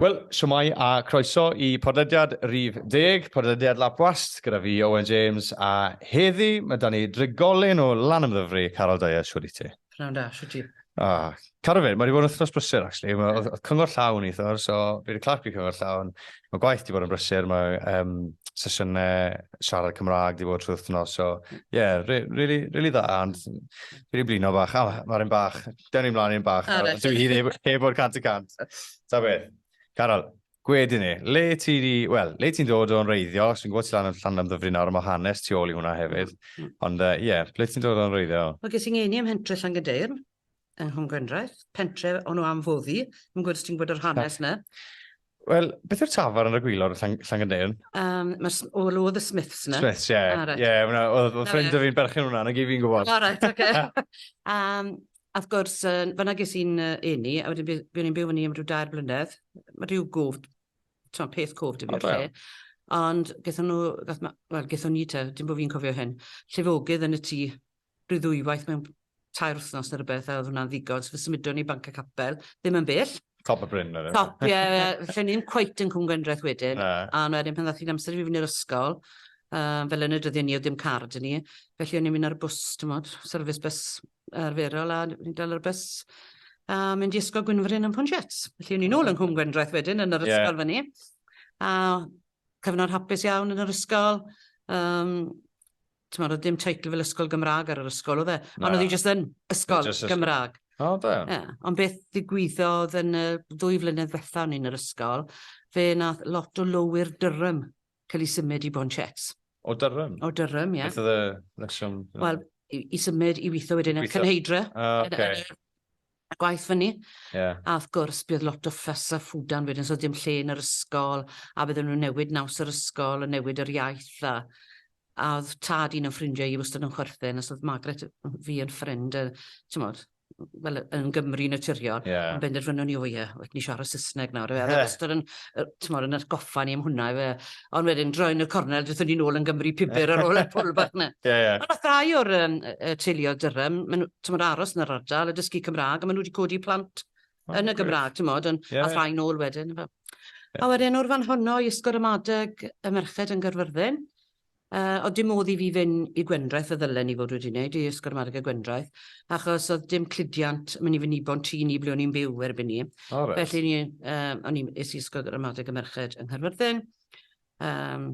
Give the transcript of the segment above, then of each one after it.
Wel, siwmai a croeso i podlediad Rif Deg, podlediad Lapwast, gyda fi Owen James, a heddi mae da ni drigolyn o lan ymddyfri, Carol Dyer, siwr i ti. Pnawn da, siwt ti? O, cadw fe, mae wedi bod yn wythnos brysur, actually. Mae yeah. cyngor llawn i thor, so fi wedi clapio cyngor llawn. Mae gwaith wedi bod yn brysur, mae um, sesiynau siarad Cymraeg wedi bod trwy wythnos, so ie, yeah, really, really dda, and fi wedi blino bach, ah, mae'r un bach, dyn ni'n mlaen i'n bach, ah, dwi hi heb o'r cant y cant. Ta beth, Carol, Gwed i ni, le ti di, wel, le ti'n dod o'n reiddiol, os fi'n gwybod ti lan yn llan am ddyfri nawr, mae hanes tu ôl i hwnna hefyd, mm. ond ie, uh, yeah, ble ti'n dod o'n reiddiol? Wel, ges i'n ngeni ym Hentre Llangydeirn, yng Nghwm Gwendraeth, pentre o'n nhw am foddi, yn gwybod os ti'n gwybod yr hanes na. Wel, beth yw'r tafar yn y gwylod o Llangydeirn? Um, Mae'r o oedd y Smiths na. Smiths, ie. Yeah. Ie, yeah, oedd ffrind o fi'n berchen hwnna, na gyd fi'n gwybod. O, reit, oce. um, A wrth gwrs, yy, fan'na ges i'n yy eni, a wedyn bu- buon i'n byw fyny am ryw dair blynedd. Ma' ryw gwf, t'mo', peth cwf 'da fi o'r lle. Ond gethon nhw, gath ma- wel, gethon ni te, dim bo' fi'n cofio hyn, llifogydd yn y tŷ ryw ddwywaith mewn tair wythnos ne' rwbeth, a o'dd hwnna'n ddigon. So fe symudon ni i Banc y Capel, ddim yn bell. Top o Bryn wedyn. Top, ie, ie. Felly ni'm cweit yn Cwm Gwendraeth wedyn. Na. A wedyn pan ddath hi'n amser i fi fynd i'r ysgol, yym, fel yn y dyddie 'ny o'dd dim car 'da ni, felly o'n i'n mynd ar y bws, t'mod, service bus arferol a ni'n dal ar y bus a mynd i ysgol Gwynfryn yn Pontiats. Felly o'n i'n ôl yng Nghwm Gwendraeth wedyn yn yr ysgol yeah. fyny. A cyfnod hapus iawn yn yr ysgol. Um, ti'n meddwl, dim teitl fel ysgol Gymraeg ar yr ysgol, oedd e? Ond oedd hi jyst yn ysgol just Gymraeg. O, da. Yeah. Ond beth ddigwyddodd yn y ddwy flynedd fetha o'n i'n yr ysgol, fe nath lot o lowyr dyrym cael ei symud i Bronchets. O Durham? O Durham, ie. Beth oedd y reswm? Wel, i, i symud i weithio wedyn ar Cynheidra. Oh, okay. A gwaith fyny. Yeah. A wrth gwrs, bydd lot o ffys a ffwdan wedyn, so dim lle yn yr ysgol, a bydden nhw'n newid naws yr ysgol, a newid yr iaith, a, a oedd tad un o'n ffrindiau i wastad yn chwerthin, os oedd Margaret fi yn ffrind, a, ti'n modd, wel, yn Gymru naturiol, yeah. ond benderfynwn ni, o ie, yeah, ni siarad Saesneg nawr. Ie. Yeah. Ystod yn, tymor, yn atgoffa ni am hwnna. Fe. Ond wedyn, droi'n y cornel, dydyn ni'n ôl yn Gymru pibur ar ôl y pwl bach na. Ie, ie. Ond oedd ddau o'r um, teuluodd dyrem, maen nhw, aros yn yr ardal, y dysgu Cymraeg, a maen nhw wedi codi plant oh, yn y Gymraeg, ti'n modd, ond yeah. a rhai nôl wedyn. Fe. Yeah. A wedyn, o'r fan honno, i ysgol ramadeg y merched yn Gyrfyrddin, Yy, o'dd dim modd i fi fyn' i Gwendraeth fel ddylen i fod wedi neud, i Ysgol Ramadeg Gwendraeth, achos o'dd dim cludiant myn' i fynibon tŷ ni ble o'n i'n byw erbyn 'ny. O reit. Felly ni- yy o'n i... Es i Ysgol Ramadeg y Merched yng Nghaerfyrddin. Yym,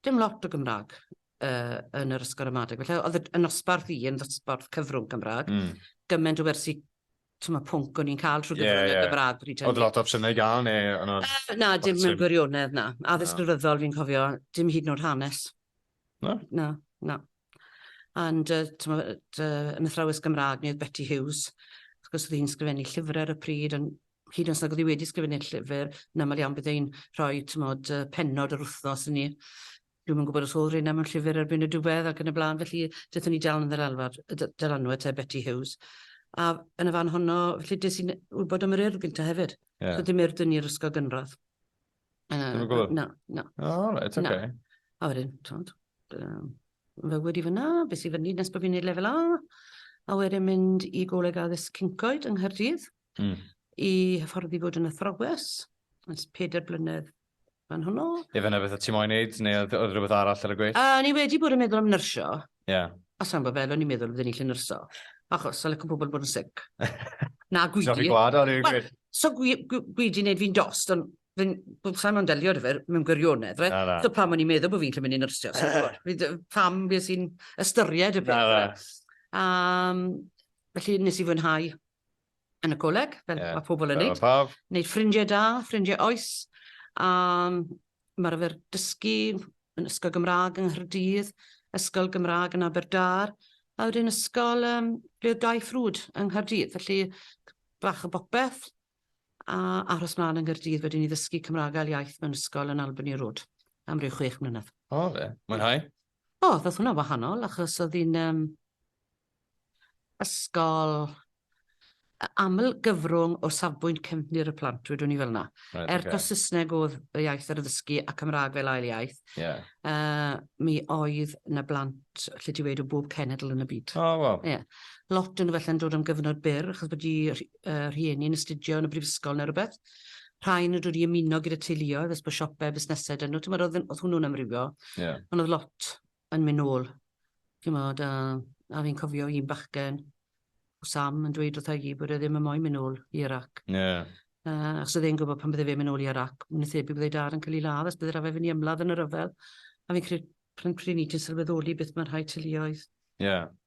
dim lot o Gymra'g yy yn yr Ysgol Ramadeg, felly o'dd y d- y nosbarth i yn ddosbarth cyfrwng Cymra'g. Hmm. Gyment o wersi ti'n ma pwnc o'n i'n cael trwy gyfrwng y Gymraeg. Oedd lot o opsiynau i gael neu? Na, dim mewn gwirionedd, na. Addysg Rhyddfrydol, fi'n cofio, dim hyd yn oed hanes. Na? Na, na. And, ti'n ma, yn athrawes Gymraeg ni oedd Betty Hughes, wrth gwrs oedd hi'n sgrifennu llyfrau ar y pryd, ond hyd yn oes nag oedd hi wedi sgrifennu'r llyfr, yn aml iawn bydd e'n rhoi, ti'n ma, pennod yr wythnos i ni. Dwi'm yn gwybod os oedd Rina mewn llyfr erbyn y diwedd ac yn y blaen, felly dython ni dal yn yr alwad, y dy- dylanwad te, Betty Hughes. A yn y fan honno, felly des i'n wybod am yr Urdd gynta hefyd. Ie. So dim Urdd yn i'r ysgol gynradd. Yy, Ddim yn gwybod? Na, na. O, reit, Na. oce. A wedyn, t'mod, yym, fy wedi fyna, beth sy'n fyny nes bod fi'n neud lefel A, a wedyn mynd i Goleg Addysg Cyncoed yng Nghaerdydd, Mm. i hyfforddi fod yn athrawes, ers pedair blynedd Fan hwnnw. Ife yna beth o ti moyn neud, neu oedd oedd rhywbeth arall ar y gweill? A ni wedi bod yn meddwl am nyrsio. Ie. Yeah. A sa'n gwybod fel o'n i'n meddwl fydden ni'n lle nyrsio. Achos, sa'n licen pobl bod yn sic. Na, gwidi. Sa'n fi gwad, o'n i'n gwyd. So gwidi wneud fi'n dost, ond fi'n sa'n ma'n delio dy fer mewn gwirionedd, right? Na, na. So pam o'n i'n meddwl bod fi'n lle mynd i'n nyrsio, sa'n gwybod. Pam beth sy'n ystyried y peth. Na, na. Um, felly nes i fwynhau yn y coleg, fel yeah. mae pobl yn neud. Paf. Neud ffrindiau da, ffrindiau oes. A mae'r arfer dysgu yn Ysgol Gymraeg yng Nghyrdydd, Ysgol Gymraeg yn Aberdâr, a wedyn ysgol um, ble oedd dau ffrwd yng Nghyrdydd. Felly, bach o bopeth, a aros mlaen yng Nghyrdydd wedyn i ddysgu Cymraeg ail iaith mewn ysgol yn Albany Road am ryw chwech mlynedd. O, fe. Mwynhau? O, ddoth hwnna wahanol, achos oedd hi'n um, ysgol aml gyfrwng o safbwynt cefndir y plant, wedwn ni fel yna. Right, okay. Er taw Saesneg oedd y iaith ar y ddysgu a Cymraeg fel ail iaith, yeah. uh, mi oedd na blant lle ti wedi o bob cenedl yn y byd. O, oh, wow. Yeah. Lot yn y felle'n dod am gyfnod byr, achos bod i uh, rhieni yn astudio yn y brifysgol neu rhywbeth. Rhai nhw dod i ymuno gyda teuluoedd, ys bod siopau, busnesau dyn nhw. Ti'n meddwl, oedd hwnnw'n amrywio, yeah. ond oedd lot yn mynd nôl. Chimod, a, a fi'n cofio un bachgen, o Sam, yn dweud wrtha i bod e ddim yn moyn mynd nôl i Iraq. Yeah. Uh, achos oedd e'n gwybod pan bydde fe'n mynd nôl i Iraq, yn y thebyg bydde dad yn cael ei ladd, os bydde'r afe fynd i ymladd yn y rhyfel. A fi'n credu pryn pryn i ti'n sylweddoli beth mae rhai teuluoedd. Yeah.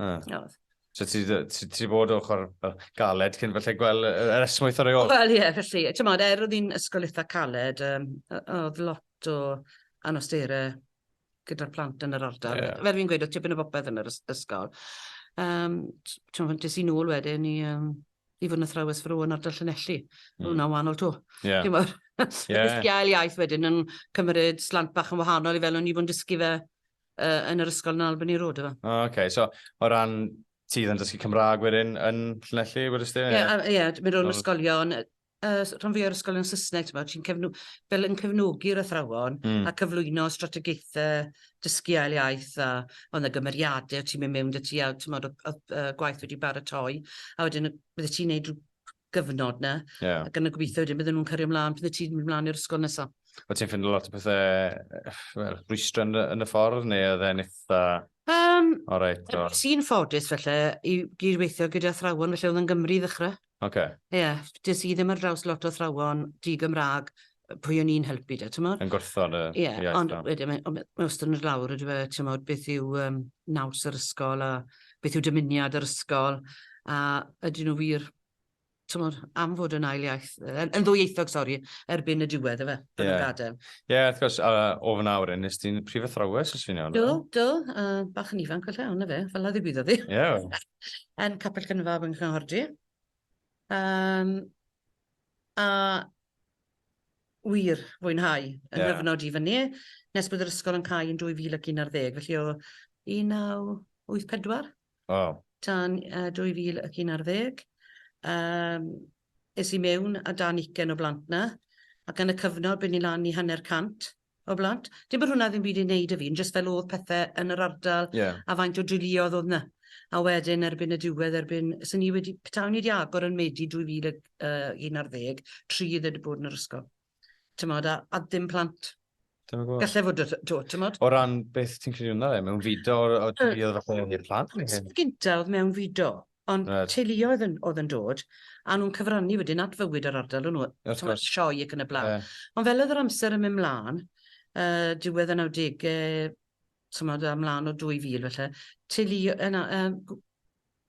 Ah. Nawdd. So ti, ti, ti bod ochr galed cyn falle gweld yr esmwyth ar ei ôl? Wel ie, yeah, felly, ti'n modd, er oedd hi'n ysgol eitha caled, um, oedd lot o anostera gyda'r plant yn yr ardal. Yeah. Fel fi'n gweud, oedd tipyn o bopeth yn yr ysgol. Um, ti'n modd, des i'n ôl wedyn i, um, i fod yn athrawes fro yn ardal Llanelli. Mm. Hwna wahanol to. Yeah. Ti'n modd, yeah. iaith wedyn yn cymryd slant bach yn wahanol i fel o'n i fod yn dysgu fe uh, yn yr ysgol yn Albany Road efo. O, oh, oce. Okay. So, o ran ti yn dysgu Cymraeg wedyn yn Llanelli, wedys ti? Ie, yeah, ie, yeah, mynd o'n ysgolion, uh, rhan fwy o'r ysgolion Saesneg, ti'n cefnu, fel yn cefnogi'r athrawon mm. a cyflwyno strategaethau dysgu ail iaith a ond y gymeriadau ti'n mynd mewn dy ti a ti'n modd o, o, o, gwaith wedi baratoi a wedyn bydde ti'n neud gyfnod na. Yeah. Ac yna gobeithio wedyn bydden nhw'n cario ymlaen pan ti'n mynd ymlaen i'r ysgol nesaf. Wyt ti'n ffindio lot o pethau rhwystro yn, yn y ffordd neu oedd e'n eitha... Um, o reit, o. Sy'n ffodus felly i gydweithio gyda thrawon felly oedd yn Gymru i ddechrau. Oce. Okay. Ie, yeah, dys i ddim ar draws lot o thrawon di Gymraeg pwy o'n i'n helpu da, ti'n modd? Yn gwrthod y yeah, iaith ond wedyn, mae, mae wastad yn lawr, ydy fe, ti'n modd, beth yw um, naws yr ysgol, a beth yw dymuniad yr ysgol, a ydyn nhw wir, ti'n modd, am fod yn ail iaith, yn, yn ddwyieithog, sori, erbyn y diwedd, efe, bod yeah. yn gadael. Ie, yeah, wrth gwrs, uh, o fyna awr, nes ti'n prif athrawes, os fi'n iawn. Do, do, uh, bach yn ifanc, felly, ond efe, fel a ddigwyddodd ddi. Ie. Yeah. yn Capel Cynfab yng Nghordi. Um, a wir fwynhau yn yeah. nghyfnod i fyny, nes bod yr ysgol yn cael yn 2011, felly o 1984 oh. tan uh, 2011. Um, es i mewn a dan ugen o blant na, ac yn y cyfnod bydd ni lan i hanner cant o blant. Dim bod hwnna ddim byd i wneud y fi'n, jyst fel oedd pethau yn yr ardal yeah. a faint o driliodd oedd yna. A wedyn erbyn y diwedd, erbyn, sy'n ni wedi, petawn ni wedi agor yn Medi 2011, tri ddod wedi bod yn yr ysgol. Tymod, a, a ddim plant. Gallai fod to, tymod. O ran beth ti'n credu hwnna le, mewn fido, o driliodd falle i'r plant? Gynta oedd mewn fido. Ond right. teuluoedd yn, oedd yn dod, a nhw'n cyfrannu wedyn at fywyd yr ardal o'n nhw, sioe ac yn y blaen. Yeah. Ond fel oedd yr amser yn mynd mlaen, uh, diwedd y 90au, tymod, a mlaen o 2000 felly, teulu, yna, uh,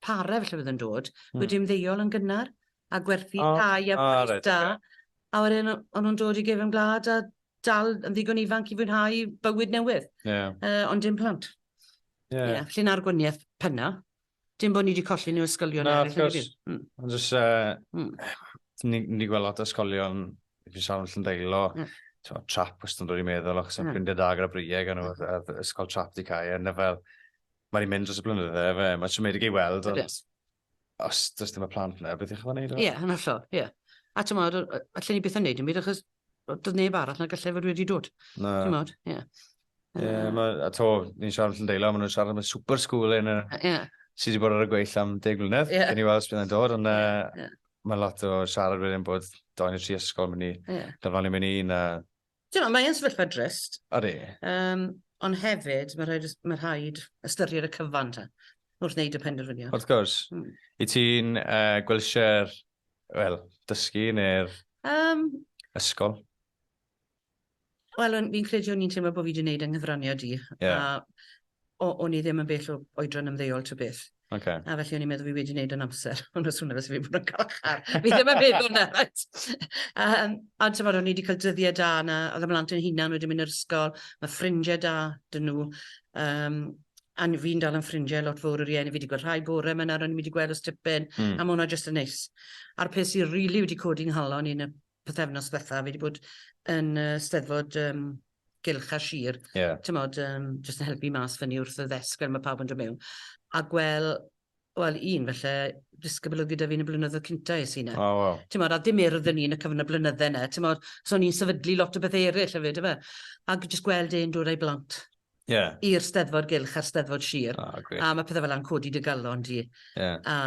pare felly oedd yn dod, hmm. wedi ymddeol yn gynnar, a gwerthu oh, tai a oh, right, da, okay. a wedyn o'n nhw'n dod i gefn gwlad a dal yn ddigon ifanc i fwynhau bywyd newydd, yeah. uh, ond dim plant. Yeah. Yeah, felly na'r gwaniaeth penna. Dim bod ni wedi colli nhw ysgolion eraill. Na, of course. Mm. Ond jyst, uh, mm. ni wedi gweld lot o ysgolion, fi sawl yn Llyndeilo, mm. Tewa, trap wrth yn dod i meddwl, achos yn ffrindiau da gyda Brieg, a nhw, ysgol trap di cael, a fel, mae wedi mynd dros y blynydde, fe, mae siomedig ei weld, ond yes. os does dim y plant yna, beth ych chi'n gwneud? Ie, yn hollol, ie. A ti'n meddwl, allan ni beth yn neud yn byd, achos doedd neb arall na gallai fod wedi dod. Na. Ti'n modd, ie. Yeah. Ie, yeah, uh, mae, a to, ni'n siarad allan deila, maen nhw'n siarad am y super school yn y... Yeah. Sydd wedi bod ar y gweill am deg mlynedd, yeah. gen i weld sy'n dod, ond yeah. uh, yeah. mae lot o siarad wedyn bod do'n i tri ysgol mynd i, yeah. dyfan i mynd i, na... Ti'n meddwl, mae'n sefyllfa drist. Odi. Um, ond hefyd, mae rhaid, mae rhaid ystyried y cyfan ta, wrth wneud y penderfyniad. Wrth gwrs. Mm. I ti'n uh, gwelsio'r Wel, dysgu neu'r um, ysgol? Wel, fi'n credu o'n i'n teimlo bod fi wedi gwneud yng nghyfraniad i. Yeah. A o'n i ddim yn bell o oedran ymddeol to beth. Okay. A felly o'n i'n meddwl fi wedi gwneud yn amser. Ond os hwnna fes fi bod yn galchar. fi ddim yn meddwl na, right? Um, a ti'n bod, o'n i wedi cael dyddiau da na, oedd ymlaen yn hunan wedi mynd i'r ysgol, mae ffrindiau da dyn nhw. Um, a ni fi'n dal yn ffrindiau lot fawr o rieni, fi 'di gweld rhai bore 'ma nawr o'n i 'di gweld ers tipyn... Mm. ...a ma' hwnna jyst yn neis. A'r peth sy rili wedi codi 'nghalon i yn y pythefnos ddwetha, fi 'di bod yn yy Steddfod yym Gylch a Sir... Ie. ...t'mod yym jyst yn helpu mas fyny wrth y ddesg fel ma' pawb yn do' mewn a gwel' Wel, un, felly, disgybl oedd gyda fi yn y blynyddoedd cynta es i yna. O, oh, wow. Ti'n modd, a ddim urdd yn un y cyfnod blynydde yna. Ti'n modd, so ni'n sefydlu lot o beth eraill hefyd, efe. Ac jyst gweld e'n dod ei blant. Yeah. I'r steddfod gylch a'r steddfod sir. Oh, a mae pethau fel yna'n codi dy galon di. Yeah. A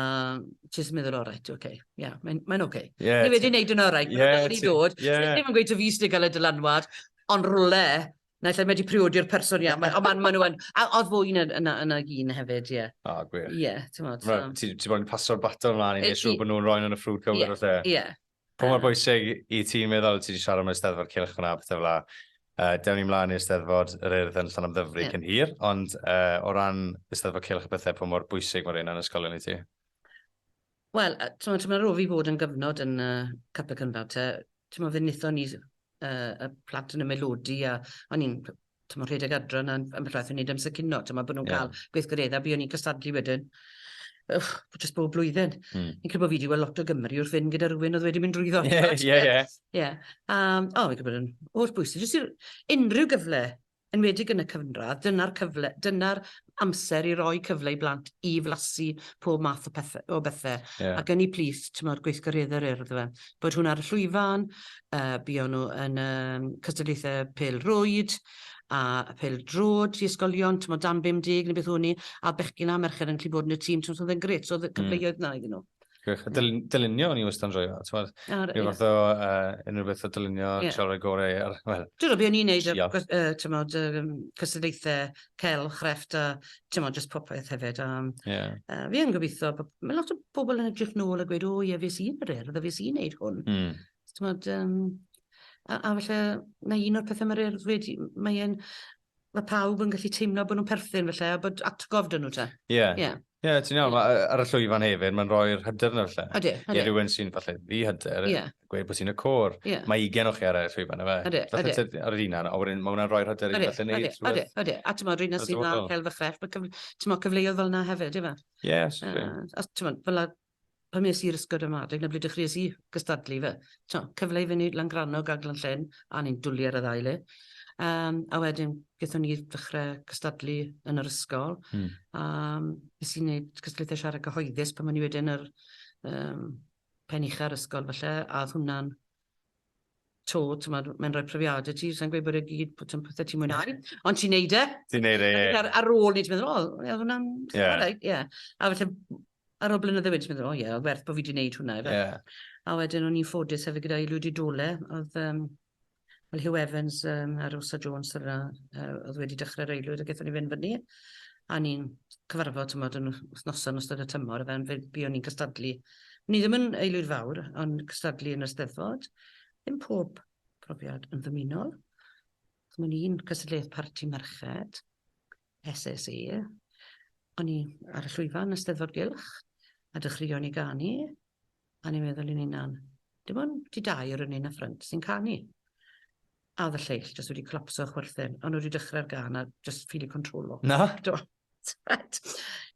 ti'n meddwl, o, reit, oce. Okay. Yeah, mae'n mae oce. Okay. Yeah, Ni wedi gwneud yn o'r reit. Yeah, wedi dod. Yeah. Ddim yn gweud o fi sydd wedi cael y dylanwad, ond rhywle Naill ai mae 'di priodi'r person ia ma' o ma' ma' nw yn a o'dd fwy na na na un hefyd ie. O gwych. Ie t'mod so. Reit ti ti moyn paso'r baton mlan i neud siŵr bo' nw'n roi'n yn y ffrwd cywir falle? Ie ie. Pa mor bwysig i ti meddwl, ti 'di siarad am yr Eisteddfod Cylch fana a pethe fela, yy dewn ni mlan i'r Steddfod yr Urdd yn Llanymddyfri cyn hir, ond yy o ran Eisteddfod Cylch a pethe pa mor bwysig ma' reina'n ysgolion i ti? Wel, yy t'mod ma' rho' fi fod yn gyfnod yn yy Capel Cynfal te, t'mod fe nethon ni yy y plant yn y Melodi a o'n i'n p- t'mod rhedeg adre 'na ambell waith yn neud amser cino t'mod bo' nw'n ca'l gweithgaredde a buon ni'n cystadlu wedyn jyst bob blwyddyn. Hmm. Fi'n credu bo' fi 'di wel' lot o Gymry wrth fynd gyda rywun o'dd wedi mynd drwyddo. Ie ie ie. Ie. Yym o fi'n credu bod yn holl bwysig jyst i r- unryw gyfle enwedig yn y cyfnradd, dyna'r cyfle, dyna'r amser i roi cyfle i blant i flasu pob math o, pethe, o bethe. Yeah. Ac yn ei plith, ti'n modd gweithgarydd yr urdd fe. Bod hwn ar y llwyfan, uh, buon nhw yn um, cystadlaethau pel rwyd, a pel drod i ysgolion, ti'n modd dan 50 neu beth o'n ni, a bechgyn a merched yn gallu bod yn y tîm, ti'n modd oedd e'n gret, so oedd y hmm. cyfleoedd mm. na iddyn nhw. Gwych. Dyl dylunio o'n i wastad yn joio. Tywed, Ar, rhyw fath o uh, unrhyw beth o dylunio, yeah. trio rhoi gorau ar... Well, Dwi'n rhaid o'n i'n neud y, uh, tymod, um, cystadlaethau cel, chrefft a tymod, just popeth hefyd. Um, yeah. uh, fi yn gobeithio, mae lot o bobl yn edrych nôl a gweud, o oh, ie, yeah, fes i'n yr erdd, fes i'n neud hwn. Mm. Tymod, um, a, a felly, mae un o'r pethau mae'r erdd wedi, mae'n Mae pawb yn gallu teimlo bod nhw'n perthyn felly, a bod atgof dyn nhw te. Ie. Yeah. Yeah. Ie, yeah, ti'n iawn, yeah. Mae ar y llwyfan hefyd, mae'n rhoi'r hyder yna felly. Adi, adi. I rhywun sy'n falle ddi hyder, yeah. gweud bod ti'n y cwr. Yeah. Mae ugen o chi ar y llwyfan, efe. Adi, adi. Falle ar yr un a wedyn mae hwnna'n rhoi'r hyder i falle neud. Adi, adi, adi. A ti'n modd, rhywun sy'n dda cael fy chrefft, ti'n modd cyfleoedd fel yna hefyd, efe. Ie, yeah, sure. Uh, a ti'n modd, fel pan es i'r ysgol ramadeg 'na ble dechreuais i gystadlu ife. T'mo', cyfle i fyny Langrannog a Glan-llyn, a o'n i'n dwli ar y ddau le. Yym, a wedyn gethon ni ddechre cystadlu yn yr ysgol. Hmm. A nes i neud cystadlaethau siarad cyhoeddus pan o'n i wedyn yr yym pen ucha'r ysgol falle, a o'dd hwnna'n to, t'mod, mae'n rhoi profiade ti, sa'n gweud bod e gyd, bod ti'n pethau ti'n mwynhau, ond ti'n neud e. Ti'n neud e, ie. Ar, ar ôl ni, ti'n meddwl, o, ie, hwnna'n... Ie. Yeah. Right, ie. Yeah. A felly, ar ôl blynydde wedyn, ti'n meddwl, o ie, yeah, werth bod fi wedi neud hwnna. Ie. Yeah. A wedyn, o'n i'n ffodus hefyd gyda'i lwyd i dole, oedd, um, well, Hugh Evans um, a Rosa Jones yr uh, oedd wedi dechrau'r eilwyd, a gethon ni fynd fyny. A ni'n cyfarfod, ti'n meddwl, yn wythnosau yn ystod y tymor, a fe'n fi o'n i'n cystadlu Ni ddim yn aelwyd fawr, ond cystadlu yn y Steddfod. Ddim pob profiad yn ddymunol. Ddim yn un cystadleuaeth parti merched, SSE. O'n i ar y llwyfan y Steddfod Gylch, a dechreuon i ganu, a ni'n meddwl i'n unan, dim ond ti dau o'r yn un y ffrynt sy'n canu. A oedd y lleill jyst wedi colapso a chwerthin, o'n nhw wedi dechrau'r gan a jyst ffili controlo. Na? Do.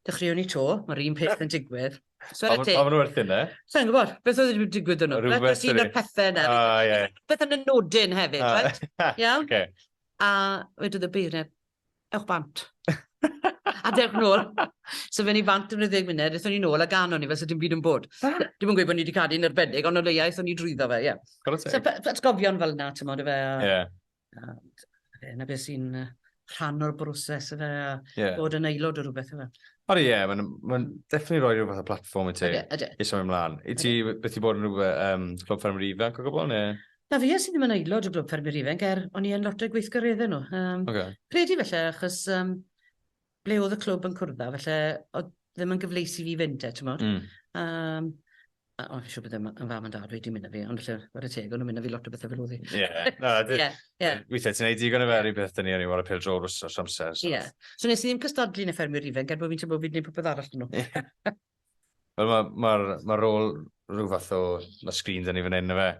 Dechreuwn ni to, mae'r un peth yn digwydd. So ar y te... Pam nhw werthin e? Sa'n gwybod, beth oedd wedi digwydd yn nhw? Rhywbeth wedi... Sy'n y pethau yna. O, ie. Beth yn y nodyn hefyd, right? Iawn? Oce. A wedodd y beirniad, ewch bant. a dewch nôl. so fe ni bant yn 10 munud, eithon ni nôl a gan o'n i fel sydd dim byd yn bod. Ah. Dim yn gweud bod ni wedi cadw'n erbedig, ond o leia eithon ni drwyddo fe, ie. Yeah. So, atgofion fel na, ti'n modd, efe. Ie. Yeah. Yna beth sy'n rhan o'r broses efe, a yeah. bod yn aelod o rhywbeth efe. Ond ie, yeah, mae'n ma definitely rhoi rhywbeth o platform i ti. Ydy, ydy. I symud ymlaen. I ti, beth i bod yn rhywbeth, um, Clwb Ffermwyr Ifanc o gwbl, neu? Na fi, es i ddim yn aelod o Glwb Ffermwyr Ifainc er o'n i yn lot o'i gweithgareddau nhw. Um, okay. Credu felly, achos um, ble oedd y clwb yn cwrdd â, felly oedd ddim yn gyfleis i fi fynd e, ti'n modd. Mm. Um, a, o, fi siw bod yn fam yn dad wedi mynd â fi, ond felly, ar y teg, o'n nhw'n mynd â fi lot o bethau fel oedd i. Ie, na, weithiau ti'n ei digon o fer i beth dyn ni o'n i war y pil drol rwys o'r amser. Ie, so nes i ddim cystadlu yn y ffermwyr ifainc, er bod fi'n teimlo bod fi'n gwneud popeth arall dyn nhw. Wel, mae ma, ma rôl rhyw fath o... Mae sgrin da ni fan hyn, na fe?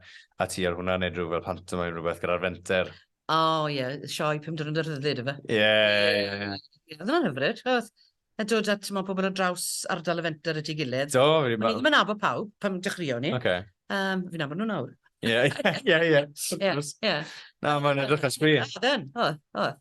A ti ar hwnna, neu rhyw fel pantomaim rhywbeth gyda'r fenter. O, oh, ie. Yeah. Sioe pum diwrnod y rhyddid, efe? Ie, ie, ie. Ie, oedd hwnna'n hyfryd. Oedd a dod at timod, pobl o draws ardal y fenter at ei gilydd. Do, fi ddim... O'n i ddim yn nabod pawb pan dechreuon ni. Okay. Um, fi'n nabod nhw nawr. Ie, ie, ie. Ie, ie. Na, mae'n edrych yn sbri. Oedd, oedd.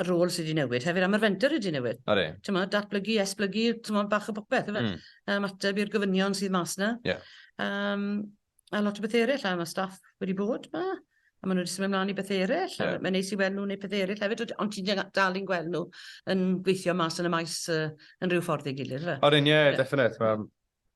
y rôl sydd wedi newid hefyd, a mae'r fenter wedi newid. Odi. Timod, datblygu, esblygu, timod, bach o bopeth, yfe? Mm. Um, ateb i'r gofynion sydd mas yna. Yeah. Um, a lot o beth eraill, a mae staff wedi bod yma, a maen nhw wedi symud ymlaen i beth eraill, yeah. a mae'n neis i weld nhw'n ei beth eraill hefyd, ond ti'n dal i'n gweld nhw yn gweithio mas yn y maes uh, yn rhyw ffordd ei gilydd, yfe? Odyn, ie, yeah, yeah. definite. Mae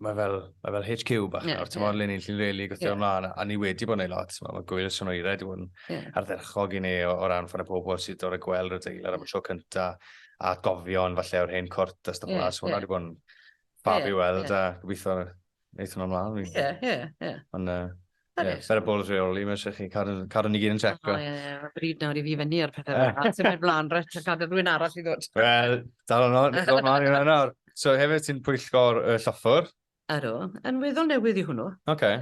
mae fel, mae fel HQ bach yeah, nawr, ti'n yeah. lun i'n llun rili gweithio yeah. ymlaen, a ni wedi bod yn ei lot, mae gwyl y swn o'i red i fod yn yeah. ardderchog i ni o, o ran ffordd y pobl sydd o'r gweld y deilad am y tro cynta, a gofion falle o'r hen cwrt a stuff yeah, so hwnna wedi bod yn fab yeah, i weld, yeah. a gobeithio wneud hwnna ymlaen. Ie, ie, ie. Ond, uh, Ie, fer y bol rheoli, mae eisiau chi cadw, cadw ni gyd yn checo. O, ie, ie, mae bryd nawr i fi fyny ar pethau fel yna. Ti'n mynd blaen, rhaid a cadw rhywun arall i ddod. Wel, dal yno, dod mlaen i hwnna nawr. So, hefyd ti'n pwyllgor y lloffwr? Ydw, yn weddol newydd i hwnnw. Oce.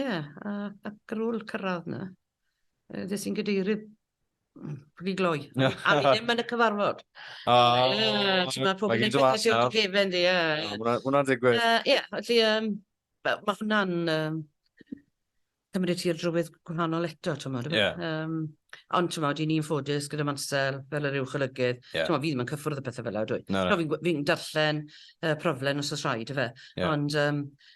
Ie, ac ar ôl cyrraedd yna. uh, des i'n gadeirydd Pwy gloi. A ni ddim yn y cyfarfod. O, mae pob yn edrych at Iwt Gefen, di. Hwna'n digwydd. Ie, felly, mae hwnna'n cymryd ti'r drywydd gwahanol eto, ti'n modd. Yeah. Um, ond ti'n modd, i ni'n ffodus gyda Mansel fel yr uwch olygydd. Yeah. Ti'n modd, fi ddim yn cyffwrdd y pethau fel yw, dwi. No, no. Fi'n fi darllen uh, proflen os oes rhaid, efe. Yeah. Ond um,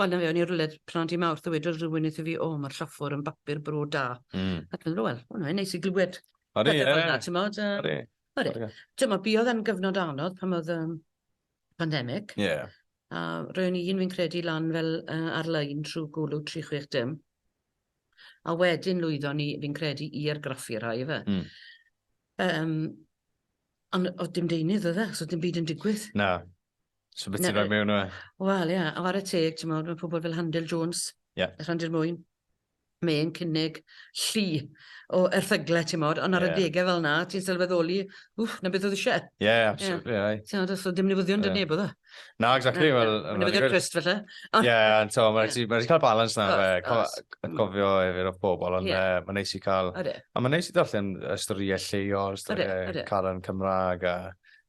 Wel, 'na fe, o'n i rywle pnawn dydd Mawrth a wedodd rhywun wrtho fi, 'O, mae'r lloffwr yn bapur bro da. Mm. Ac yn rhywle, o, mae'n neis i glywed. Odi, ie. Fel na, tymod, um, Odi. Odi. Tymod, biodd yn gyfnod anodd pan oedd um, pandemig. Ie. Yeah. A roewn i'n fi'n credu lan fel uh, ar-lein trwy gwlw 36 dim. A wedyn lwyddo ni, fi'n credu, i argraffu rhai fe. Mm. Um, ond oedd dim deunydd oedd e, so dim byd yn digwydd. Na. So beth ti'n rhoi mewn o e? Wel, ie, yeah, ar y teg, ti'n meddwl, mae pobl fel Handel Jones, yeah. y Rhandir Mwyn, mae'n cynnig llu o erthyglau, ti'n modd, ond ar yeah. y degau fel na, ti'n sylweddoli, wff, na beth oedd eisiau. Ie, yeah, absolutely, yeah. right. Ti'n so dim newyddion yeah. neb oedd e. Na, exactly. Na, well, na, newyddion Christ, felly. Ie, yeah, ond to, mae'n yeah. ma cael balans na, fe, cofio efyr o bobl, ond yeah. mae'n neis i cael... A mae'n neis i ddarllen y storiau lleol, storiau Caran Cymraeg, a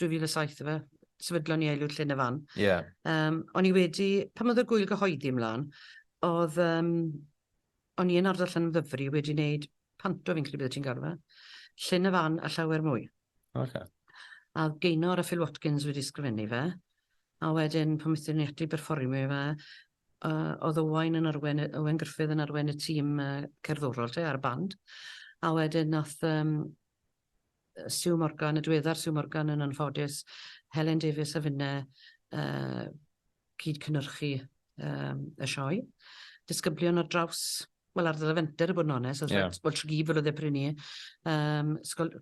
2007 efe, sefydlon ni Eilwyd Llyn y Fan. Ie. Yeah. Um, o'n i wedi, pan oedd y gwyl gyhoeddi ymlaen, oedd, um, o'n i yn ardal Llyn Ddyfri wedi wneud panto fi'n credu bydde ti'n galw fe, Llyn y Fan a llawer mwy. Okay. A Gaynor a Phil Watkins wedi sgrifennu fe, a wedyn pan wnaethon ni ati berfformio fe, uh, oedd Owain yn arwen, Owain Griffith yn arwen y tîm uh, cerddorol te ar y band, a wedyn nath um, Sue Morgan, y diweddar Sue Morgan yn anffodus, Helen Davies a finne yy cyd-cynyrchu yym y sioe. Disgyblion ar draws, wel ar ddydd fenter i bod yn onest, yeah. wel Tregear fel oedd e pryd ni, um, sgol,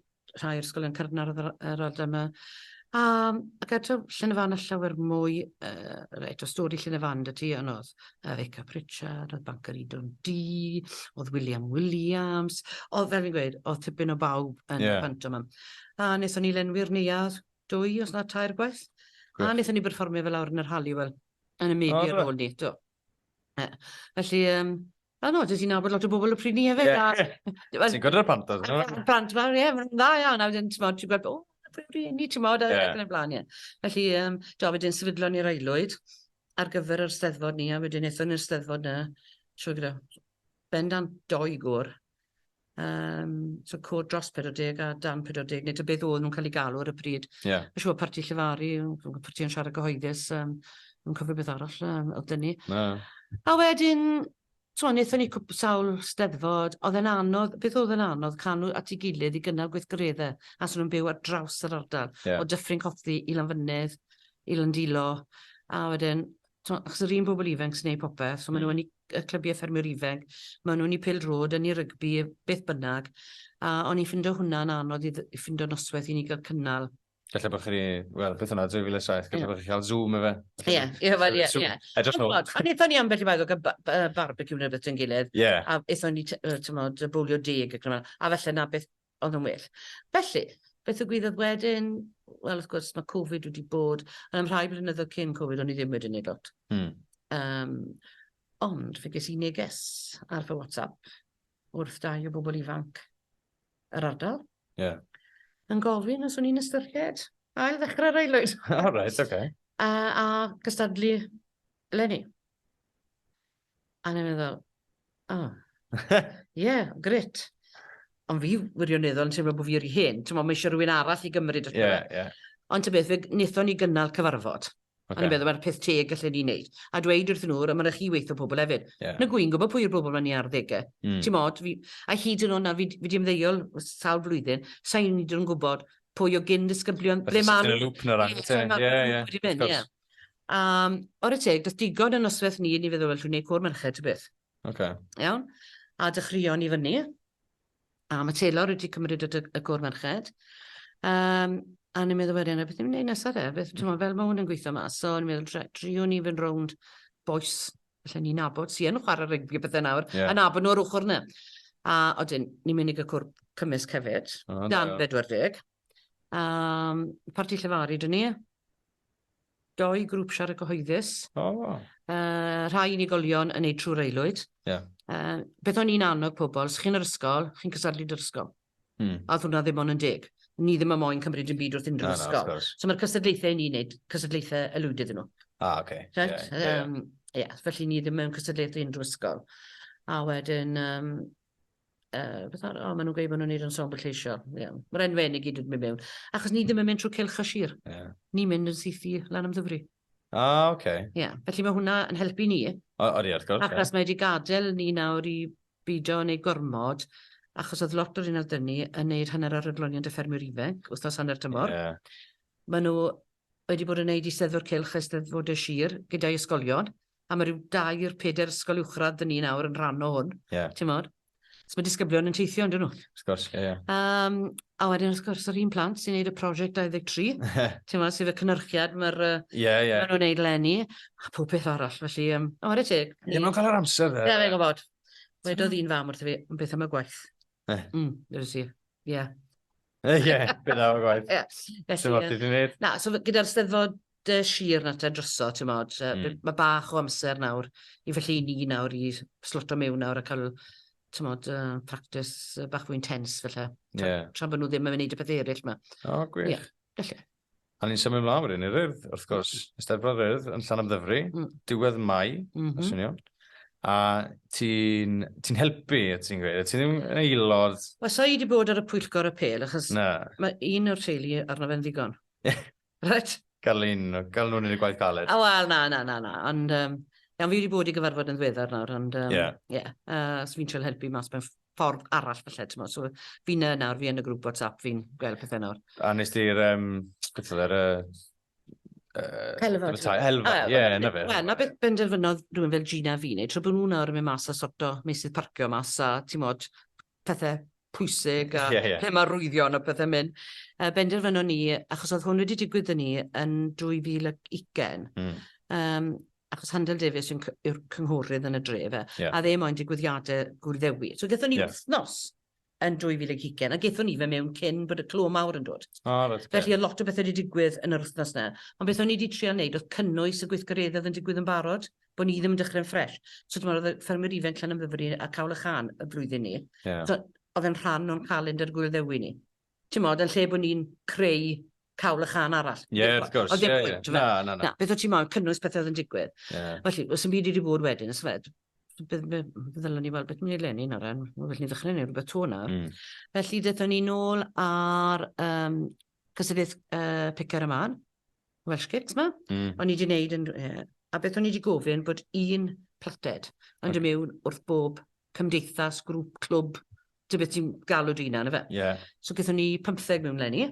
rhai o'r sgolion cyrnar yr, yr adle yma. Um, ac eto, Llynefan a llawer mwy, uh, reit, o stori Llynefan dy ti anodd, uh, Eca Pritchard, oedd Banker Edon D, oedd William Williams, oedd fel fi'n gweud, oedd tipyn o bawb yn yeah. pant yma. A nes o'n i lenwi'r neuad dwy os na tair gwaith. Gwech. A nes o'n i berfformio fel awr yn yr hali, wel, yn y media ar ôl ni. Do. Uh, felly, um, A no, dys i'n nabod lot o bobl y pryd ni hefyd. Yeah. Ti'n gwrdd y pant oedd? Pant fawr, ie, mae'n dda iawn. A wedyn, ti'n gweld, ti'n gweld, o, ni, ti'n gweld, ac yn y blaen, ie. Felly, um, do, wedyn sefydlon ni'r aelwyd. ar gyfer yr Steddfod ni, a wedyn ethon ni'r Steddfod 'na trwy gyda bendant dou gŵr, yym so côr dros 40 a dan 40 neu ta beth oedden nhw'n cael eu galw ar y pryd. Ie. Mae'n siŵr parti llefaru, yy parti yn siarad gyhoeddus yym, fi'n cofio beth arall yym o'dd 'da ni. Na. A wedyn T'mo' nethon ni cwp- sawl Steddfod, odd e'n anodd, beth odd yn anodd, canu at 'i gilydd i gynnal gweithgaredde, achos o'n nw'n byw ar draws yr ardal. Ie. O Dyffryn Cothi i Lanfynydd, i Landilo, a wedyn, t'mo', achos yr un bobol ifenc sy'n neud popeth, so ma' nw yn 'u c- yy clybie ffermwyr ifenc, ma' nw'n 'u pêl-drod, yn 'u rygbi, beth bynnag, a o'n i'n ffindo hwnna'n anodd i ddy- i ffindo nosweth i ni ga'l cynnal. Felly bod chi, wel, beth yna, 2007, gallu bod chi'n cael zoom efe. Ie, ie, wel, ie, ie. I don't know. A nethon ni ambell i waith, o'r barbecue neu beth yn gilydd. Ie. A ethon ni, tymod, bwlio deg ac yma, a felly na beth oedd yn well. Felly, beth y gwyddoedd wedyn? Wel, wrth gwrs, mae Covid wedi bod, yn am rhai blynyddoedd cyn Covid, o'n i ddim wedi neud lot. Hmm. Um, ond, fe ges i neges ar fy WhatsApp wrth dau o bobl ifanc yr ardal. Ie. Yeah. Yn gofyn os o'n i'n ystyried ail ddechrau'r aelwyd. All right, okay. A, a cystadlu Lenny. A ni'n meddwl, oh, yeah, grit. Ond fi wirioneddol yn teimlo bod fi yr i hyn. Ti'n meddwl, mae eisiau rhywun arall i gymryd y yeah, yeah. Ond ty beth, fe wnaethon ni gynnal cyfarfod. Okay. A ni'n meddwl mae'r peth teg gallen ni wneud. A dweud wrth nhw, mae'n rhaid chi weithio pobl hefyd. Yeah. Na gwy'n gwybod pwy yw'r bobl mae'n ni ar ddegau. Mm. Ti'n modd, fi, a hyd yn o'n na, fi, fi di ymddeol sawl flwyddyn, sa'n hyd yn gwybod pwy o gyn disgyblion, ble ma'n... Yn y lŵp na rhan, ie, ie, ie. Um, o'r y teg, does digon yn noswaith ni, ni feddwl, well, dwi'n gwneud cwr merched, ty beth. Okay. Iawn? A dechreuon ni fyny. A mae Taylor wedi cymryd y, y gôr merched. Um, a ni'n meddwl wedyn, a beth ni'n gwneud nesaf de? Beth, ti'n fel mae hwn yn gweithio mas. So ni'n meddwl, triwn ni fynd rownd boes, felly ni'n nabod, si yn chwarae rygbi bethau nawr, yeah. a nabod nhw'r ochr yna. A oedden, ni'n mynd i gael cwrp cymysg hefyd, oh, dan 40. Um, parti llefaru dyn ni, doi grŵp siarad gyhoeddus. O. Oh. Uh, rhai unigolion yn ei trwy'r aelwyd. Yeah. Uh, beth o'n i'n annog pobl, os chi'n yr ysgol, chi'n cysadlu dy'r ysgol. Hmm. A oedd hwnna ddim ond yn deg. Ni ddim yn moyn cymryd yn byd wrth unrhyw no, ysgol. No, so mae'r cysadlaethau ni'n neud, cysadlaethau elwyd iddyn nhw. Ah, oce. Okay. Right? Yeah, yeah. Um, yeah, felly ni ddim mewn cystadleuaeth unrhyw ysgol. A wedyn, um, Yy beth ar- o ma' nw'n gweud bo' nw'n neud ensemble lleisiol. Ie. Ma'r enwe 'yn i gyd yn myn' mewn. Achos ni ddim yn mynd trw Cylch a Sir. Ie. Ni'n mynd yn syth i lan am Ddyfri. A oce. Ie. Felly ma' hwnna yn helpu ni. O- odi wrth gwrs ie. Achos mae 'di gadel ni nawr i bido neud gormod achos o'dd lot o rheina o'dd 'dy ni yn neud hanner ar Adloniant y Ffermwyr Ifenc wthnos hanner tymor. Ie. Ma' nw wedi bod yn neud Eisteddfod Cylch a Eisteddfode Sir gyda'i ysgolion. a mae rhyw dair, peder ysgol uwchradd dyn ni nawr yn rhan o hwn, yeah. ti'n modd? So mae disgyblion yn teithio, yn dyn nhw? Wrth gwrs, ie, ie. Um, a wedyn, wrth gwrs, yr un plant sy'n gwneud y prosiect 23, ti'n modd, sydd y cynyrchiad mae'r uh, yeah, yeah. nhw'n gwneud lenni, a pob peth arall, felly, um, o, wedi teg. Ie, mae'n cael yr amser, dde. Ie, fe'n gwybod. Wedodd un fam wrth i fi, yn beth am y gwaith. Eh. Mm, dweud si, ie. Ie, beth am y gwaith. Ie. Dyma beth i'n gwneud. Na, so gyda'r steddfod dy sir na te droso, ti'n modd, mm. mae bach o amser nawr i felly ni nawr i sloto mewn nawr a cael ti'n modd, uh, practice uh, bach fwy intense felly. Tra, yeah. tra bod nhw ddim yn mynd i beth eraill yma. O, oh, gwych. Yeah, felly. A ni'n symud mlaen wedyn i'r ryrdd, wrth gwrs, mm. Eisteddfod Ryrdd yn Llan Amddyfri, mm. diwedd Mai, mm -hmm. swnio'n. A ti'n ti helpu, ti'n gweud, ti'n ddim yn aelod... Wel, so i wedi bod ar y pwyllgor y pel, achos mae un o'r teulu arno fe'n ddigon. Reit. Gael un, gael nhw'n yn y gwaith galed. O, wel, na, na, na, na. Ond, um, iawn, fi wedi bod i gyfarfod yn ddiweddar nawr, ond, um, yeah. yeah. Uh, so fi'n trio helpu mas mewn ffordd arall felly, ti'n So fi'n yna nawr, fi yn y grŵp WhatsApp, fi'n gweld pethau nawr. A nes ti'r, um, beth oedd e, Helfod. Helfod, ie, na fe. Wel, na beth benderfynodd rhywun fel Gina fi, neu tro bod nhw nawr yn mynd mas a sorto meisydd parcio mas a, ti'n modd, pethe pwysig a... Ie, ie. ...lle ma' arwyddion a pethe myn'. Yy benderfynon ni, achos o'dd hwn wedi digwydd 'dy ni yn 2020... Hmm. ...yym achos Handel Davies yw'n cy- yw'r cynghorydd yn y dre yfe? Ie. A o'dd e moyn digwyddiade Gŵyl Ddewi. So gethon ni... Ie. ...wthnos yn 2020 a gethon ni fe mewn cyn bod y clo mawr yn dod. O reit oce. Felly o'dd lot o bethe 'di digwydd yn yr wthnos 'ny. Ond beth o'n i 'di trial neud o'dd cynnwys y gweithgareddedd yn digwydd yn barod. bod ni ddim yn dechrau'n ffres. So, ti'n meddwl, oedd y ffermwyr ifanc llan yn fyfyri a cawl y chan y flwyddyn ni. Yeah. So, oedd e'n rhan o'n calendr gwyl ddewi ni. Ti'n modd, yn lle bod ni'n creu cawl y chan arall. Ie, yeah, wrth gwrs. Oedd e'n pwynt, na, na, na. na. Beth oedd ti'n modd, cynnwys pethau oedd yn digwydd. Yeah. Felly, os yn byd i wedi bod wedyn, ys fed, ddylwn ni weld beth ni'n ei lenni nawr, yn fel ni'n ddechrau neu rhywbeth to nawr. Mm. Felly, ddethon ni nôl ar um, cysylltiaeth uh, picar y man. Welsh Kits ma. Mm. O'n i wedi wneud yn... Yeah. A beth o'n i wedi gofyn bod un plated yn okay. mewn wrth bob cymdeithas, grŵp, clwb, dy beth ti'n galw dy hunan, efe? Yeah. So gyda ni 15 mewn lenni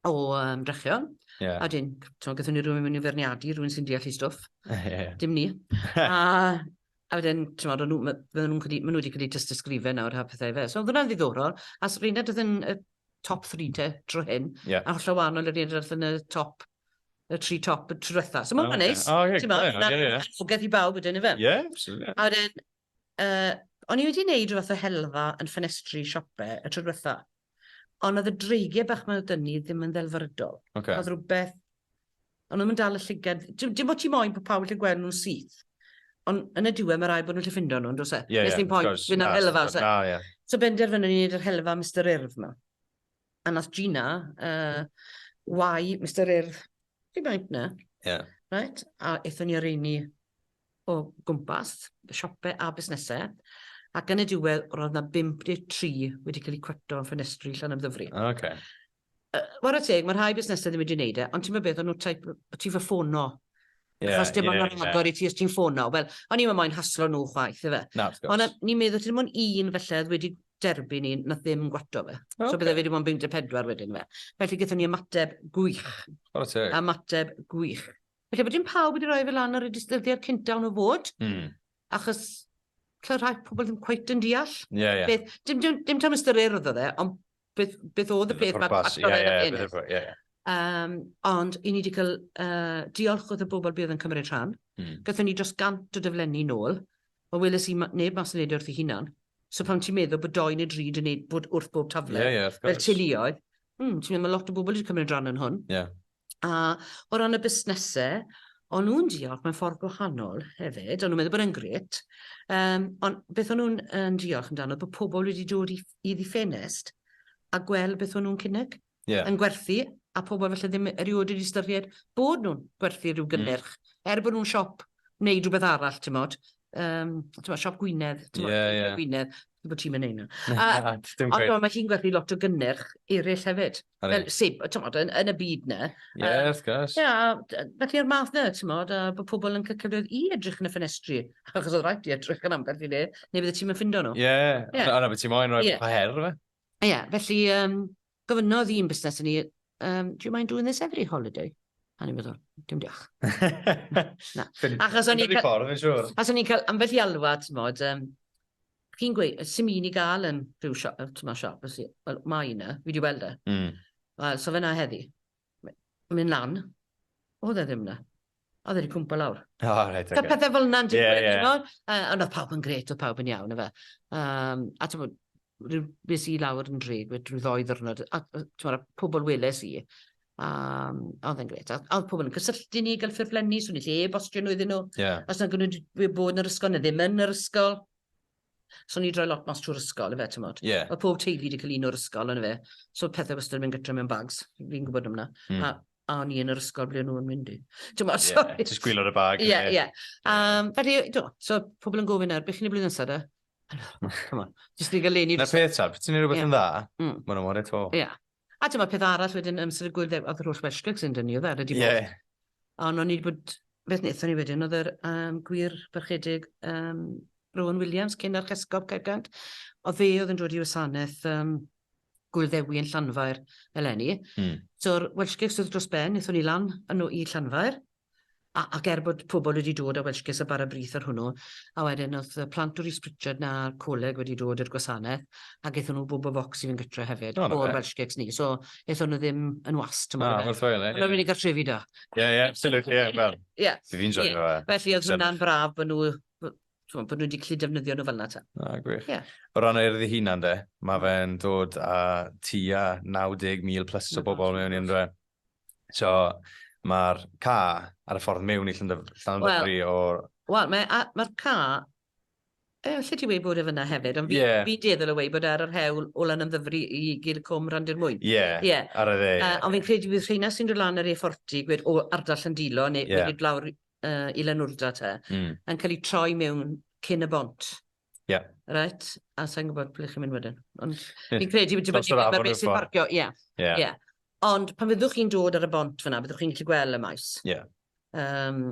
o um, drechion. Yeah. A dyn, ti'n gyda ni rhywun mewn i ferniadu, rhywun sy'n deall i stwff. yeah. Dim ni. a, A wedyn, timod, o'n nhw, ma- fydden nhw'n credu, maen nhw wedi credu tystysgrifen nawr, ha pethau fe. So, oedd hwnna'n ddiddorol. A s- Reinhard oedd yn y top 3 te, dro hyn. Ie. A hollol wahanol i'r Reinhard oedd yn y top, y tri top y tro diwetha. So, mae'n O, ma' ocê. neis. O, ie, Ti'n gwbod, ie, na- ie, ie. annogaeth i bawb wedyn, ife? Ie, absolutely. A wedyn, uh, o'n i wedi wneud rhywbeth o helfa yn ffenestri siope y tro diwetha. Ond oedd y dreigiau bach mae nhw dyn ni ddim yn ddelfrydol. Okay. Oedd rhywbeth... Ond nhw'n dal y llygad... Dim bod ti moyn bod pawb yn gweld nhw'n syth. Ond yn y diwedd mae rai bod nhw'n lle ffindo nhw'n dros e. Ie, ie, of course. Fy'n ar helfa. Na, ie. So benderfynu ni wneud yr helfa Mr Urdd ma. A nath Gina, uh, wai Mr Urdd, fi baint na. Ie. Right? A eithon ni ar ein ni o gwmpas y siopau a busnesau, ac yn y diwedd roedd yna 53 wedi cael eu cweto yn ffenestri Llanymddyfri. O, oce. Yy, ware teg, mae rhai busnesau ddim wedi wneud e, ond ti'n meddwl beth, o'n nhw type, o ti fy ffono. Ie, Achos dim ond ie, yn agor i ti os ti'n ffono. Wel, o'n i'm yn moyn haslo nhw chwaith, ife. Na, wrth gwrs. Ond a- ni'n meddwl ti'n mwyn un felly oedd wedi derbyn un, nath ddim gwato fe. So Ocê. bydde fe wedi bod yn 54 wedyn fe. Felly gyda ni ymateb gwych. Ware teg. Ymateb gwych. Felly bod dim pawb wedi rhoi fe lan ar y distyddiad cynta o'n o fod, mm. achos lle rhai pobl ddim cweit yn deall. Yeah, yeah. Beth, dim, dim, dim tam ystyr urdd oedd e, ond beth, beth oedd y peth mae'r pacto yeah, yeah, yn ennill. Yeah. Um, ond i ni wedi cael uh, diolch wrth y bobl bydd yn cymryd rhan. Mm. Gatho ni dros gant o dyflenni nôl. Mae weles i neb mas yn neud e wrth ei hunan. So pan ti'n meddwl bod doi neu dri yn neud bod wrth bob tafle, yeah, yeah, fel teuluoedd, mm, ti'n meddwl mae lot o bobl wedi cymryd rhan yn hwn. Yeah. A o ran y busnese, o'n nhw'n diolch mewn ffordd gwahanol hefyd, o'n nhw'n meddwl bod e'n grêt, um, ond beth o'n nhw'n um, diolch amdano, bod pobl wedi dod i, i ddiffenest a gweld beth o'n nhw'n cynnig yeah. yn gwerthu, a pobl felly ddim erioed wedi ystyried bod nhw'n gwerthu rhyw mm. gynnyrch, mm. er bod nhw'n siop wneud rhywbeth arall, ti'n modd, um, ti'n modd, siop Gwynedd, ti'n modd, yeah, yeah. Gwynedd, bod ti'n mynd hynna. Ond mae hi'n gwerthu lot o gynnyrch eraill hefyd. Fel sib, tymod, yn, yn y byd na. Ie, yeah, wrth gwrs. Ie, yeah, felly o'r math na, tymod, a bod pobl yn cael cyfleoedd i edrych yn y ffenestri. Achos oedd rhaid i edrych yn ambell i le, neu bydde ti'n mynd ffindo nhw. Ie, yeah, yeah. yna beth ti'n moyn, rhoi yeah. her, fe. Ie, yeah, felly, um, Gofynnodd un busnes i ni, um, do you mind doing this every holiday? A ni'n meddwl, dim diolch. Na. Achos o'n i'n cael... ffordd, fi'n siŵr. Achos o'n i'n cael ambell i alwad, ti'n modd, um, chi'n gweud, sy'n un i gael yn rhyw siop, ti'n modd siop, os i- wel, mae yna, fi wedi weld e. Mm. Wel, so fe na heddi. mynd lan. Oedd e ddim na. Oedd e wedi cwmpa lawr. O, oh, reit, okay. pethau fel yna'n digwydd, yeah, yeah. Bod, uh, ond oedd pawb yn gret, oedd pawb yn iawn, efe. Um, a ti'n bod, rhyw beth i lawr yn drig, rhyw ddoi ddwrnod, a ti'n bod, pobl weles i, um, oedd yn gret. A oedd pobl yn cysylltu ni, gael ffurflenni, swn i lle e-bostio nhw iddyn nhw. Yeah. Os yna'n gwneud bod yn yr ysgol, neu ddim yn yr ysgol. So ni droi lot mas trwy'r ysgol ife t'mod? Ie. Ma' pob teulu 'di ca'l un o'r ysgol on'd yfe? So pethe wastad yn mynd gytre mewn bags, fi'n gwbod am 'na. Hmm. A a o'n i yn yr ysgol ble o'n nhw'n mynd i. T'mod so... Ie, jyst gwylod y bag. Ie, ie. Yym, felly, do, so pobl yn gofyn nawr, beth chi'n y blwyddyn nesaf de? Come on, jyst i gael leni... Na peth ta, ti'n ei rhywbeth yn dda, mm. mae'n amor eto. Ie. A dyma peth arall wedyn yn sort of gwyldew- oedd yr holl Welsh gigs yn dynnu oedd e, wedi bod. Ie. Ond o'n i wedi bod, beth wnaethon ni wedyn oedd yr um, gwir barchedig um, Rowan Williams, cyn ar Chesgob Caergant, o fe oedd yn dod i wasanaeth um, Gwilddewi yn Llanfair eleni. Mm. So'r Welsh gigs oedd dros ben, wnaethon ni lan yn nhw i Llanfair, A- ac er bod pobl wedi dod â Welsh Kiss a bara brith ar hwnnw, a wedyn o'dd y plant o Rees Pritchard 'na a'r coleg wedi dod i'r gwasanaeth, a gethon nhw bobol focs i fynd gytre hefyd... O 'na fe. ...o'r Welsh Cakes ni, so ethon nhw ddim yn wast t'mod o fe. Na, werthfawrogi. O'dd o'n mynd i gartrefi 'da. Ie, ie, absolutely, ie, wel... Ie. ...'se fi'n joio fe. Ie, felly o'dd hwnna'n braf bo' nhw w- t'mod, bo' nhw 'di gllu defnyddio nhw fel'na 'te. Na, gwych. Ie. O ran yr Urdd 'i hunan 'de, ma' fe'n dod â tua 90,000 plus o bobol mewn i ynddo fe. So, mae'r ca ar y ffordd mewn i Llandyfri well, o'r... Wel, mae'r ma ca... E, lle ti wedi bod efo yna hefyd, ond fi, yeah. fi deddol o wei bod ar yr hewl o lan yn ddyfru i gyd y cwm rhan dyn mwy. Ie, yeah, yeah. ar y dde. Uh, ond fi'n credu bydd rheina sy'n dod lan yr efforti, gwed o ardall yn dilo, neu yeah. wedi lawr uh, i Lanwrda te, mm. yn cael ei troi mewn cyn y bont. Ie. Yeah. Right, a sa'n gwybod ble chi'n mynd wedyn. Ond fi'n credu wedi bod yn beth sy'n parcio, ie. Yeah. Yeah. Ond pan fyddwch chi'n dod ar y bont fyna, byddwch chi'n gallu gweld y maes. Ie. Yeah. Um,